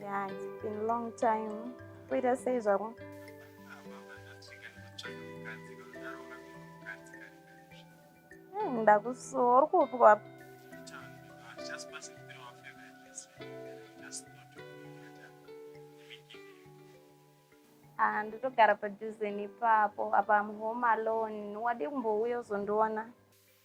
Yeah, it's been a long time. Wait, I say zvako. Hmm, ndakusuwa uri kupi kwapi? Ah, ndotogara padhuze nepapo apa I'm home alone. Wade kumbouya uzondiona?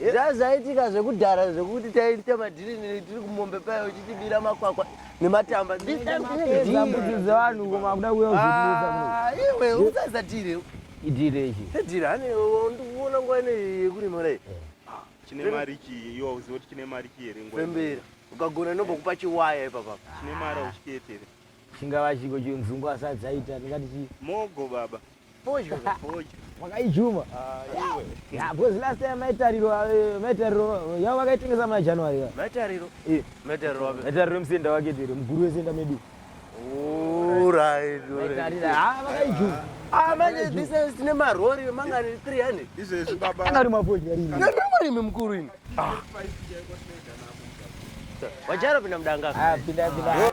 zvazaitika zvekudhara zvekuti taiita madhiri tiri kumombe paye uchitibira makwakwa nematamba dzevanhu kumakuda kuyoiwe usaisa dhire idhire ichi dhire hane ndikuona nguva ine yekurima dai chine mari chii iwe uziva kuti chine mari chii here ngwembera ukagona inobokupa chiwaya ipapa chine mari auchiketere chingava chiko chenzungu asadzaita ndingati chii mogo baba Pojo, pojo. Wakaijuma. Ah, iwe. Yeah, because last time maitariro eh, maitariro yavo vakaitengesa muna January. va. Maitariro. Eh, Maitariro wapi? Maitariro musenda wake tiri mukuru wesenda medu. Alright, alright. Maitariro ah vakaijuma. Ah, manje this is tine marori mangani 300. Izvezvi baba. Anga ari mapojo yari. Ndarimi mukuru ini. Wajara pinda mudanga. Ah pinda pinda.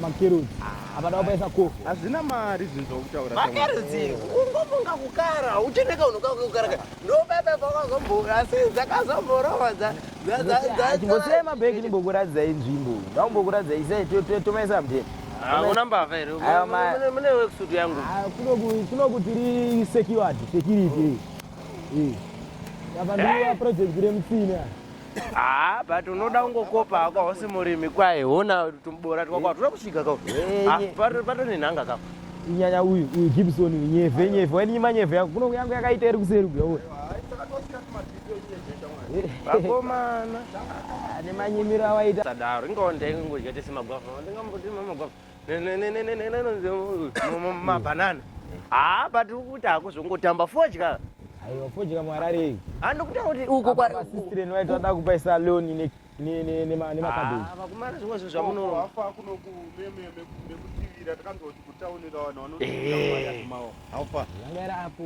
Makerudzi. Abada wabaisa ko. Hazvina mari zvinhu zvokutaura. Makerudzi ungofunga kukara ucheneka unoka kukara. Ndobaba vakazomboka asi dzakazomborova dza dza dza. mabhegi ndimbokuratidza inzvimbo. Ndaumbokuratidza isai tomaisa mdhe. Hauna mbavha here? Mune wekusudu yangu. Ah, kunoku kunoku tiri secured security. Eh. Yabandira project remutsina. Ah, but unoda ungokopa hako hausi murimi kwaye hona tumbora twako hatuna kusvika ka ah, pato nenhanga ka inyanya uyu uyu gibson uyu nyevhe nyevhe wainyima nyevhe yako kuno yangu yakaita iri kuseri kuya uyu vakomana ah, nemanyimiro awaita sadaro ingawo ndaingodya tese magwavha ndingambotima magwavha mabanana haa ah, but ukuti hakuzongotamba fodya aiwa fodya mwararei andikuta ah, kuti uko kwasistireni vaiti vada kupa saloni nemakabeji ah, vakumana zvimwe zvinhu zvamunoafa kunokumemeekutivira takanzwa kuti kutaunira vanhu vanoaaofa yanga iri apo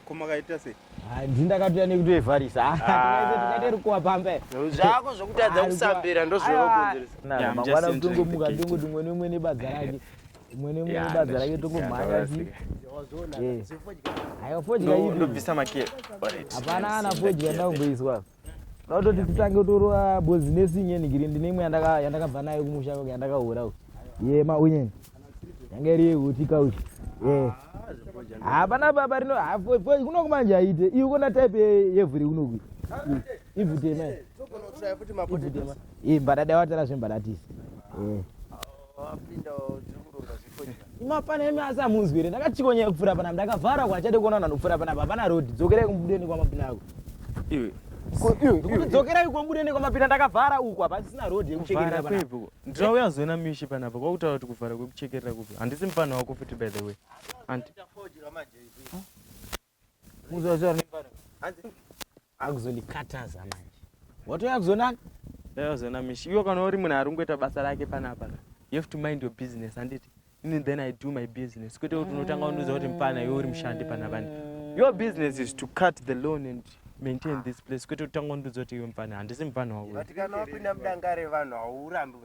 Ko makaita sei? Ah, ndzi ndakatouya nekuti evharisa. Ah, ah. tikaite rukuwa pamba. Zvako zvokutadza kusambira ndozvinokonzeresa. Na mangwana kutongo muka ndongo tumwe nemwe nebadza rake. Umwe nemwe nebadza rake tongo mhanya zi. Ayo fodya ipi? Ndobvisa makere. Hapana ana fodya ndakumboiswa apa. Ndototi titange torova business inyeni ngiri ndine imwe yandaka yandakabva nayo kumusha kwangu yandakahura uku. Ye ma unyeni. Yanga iri huti kauchi. Ye. Hapana baba rino hafo fo kuno kumanje aite. Iyo kona type ye- yevhu ri kuno ku. Ivhu tema. Ivhu tema. Ye mbadada watara zvembadatisi. Ye. mapana imi asi amunzwi here ndakachikonya kupfuura panapa ndakavhara kwachade kuona vanhu kupfuura panapa hapana road dzokerai kumbudeni kwamapina ako iwe dzokera iko mbude nekwamapinda ndakavhara uku hapasisina road yekuchekerera panapa ndinouya zoina mishi panapa kwakutaura kuti kuvhara kwekuchekerera kupi handisi mufana wako futi by the way anti muzoziva nembara hanzi akuzondikataza manje watouya kuzonani ndauya kuzona mishi iwe kana uri munhu arungoita basa rake panapa you have to mind your business handiti ini then i do my business kwete kuti unotanga undiudza kuti mupana iwe uri mushandi panapani your business is to cut the loan and maintain this place kwete kutanga undiudza kuti iwe mupana handisi mupana wako kana wapinda mudangare vanhu haurambi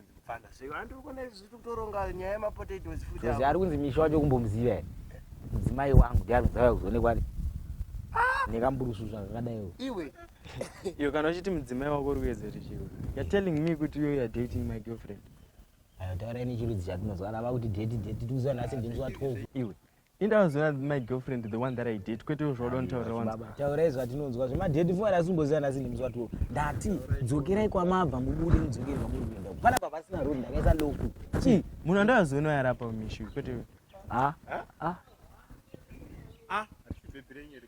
Because ari kunzi misha wacho kumbomuziva here mudzimai wangu ndiari kudzauya kuzoonekwa nekamburusu zva zvakadaiwo iwe iyo kana uchiti mudzimai wako uri kuedza kuti chiro you're telling me kuti you are dating my girlfriend ayo taura ini chirudzi chatinozwana vakuti deti deti tikuziva nhasi ndinzwa 12 iwe Ini ndakazoona my girlfriend the one that I date kwete zvoda nditaurira wanzi. Baba taurai zvatinonzwa zvema date funa rasimboziva nasi ndimi zvatuwo. Ndati dzokerai kwamabva mubude mudzokere kwamuri kuenda. Pana baba sina road ndakaisa lock. Chi munhu andakazoona yarapa mishu kwete. Ah. Ah. Ah. Achibebirei nyeri.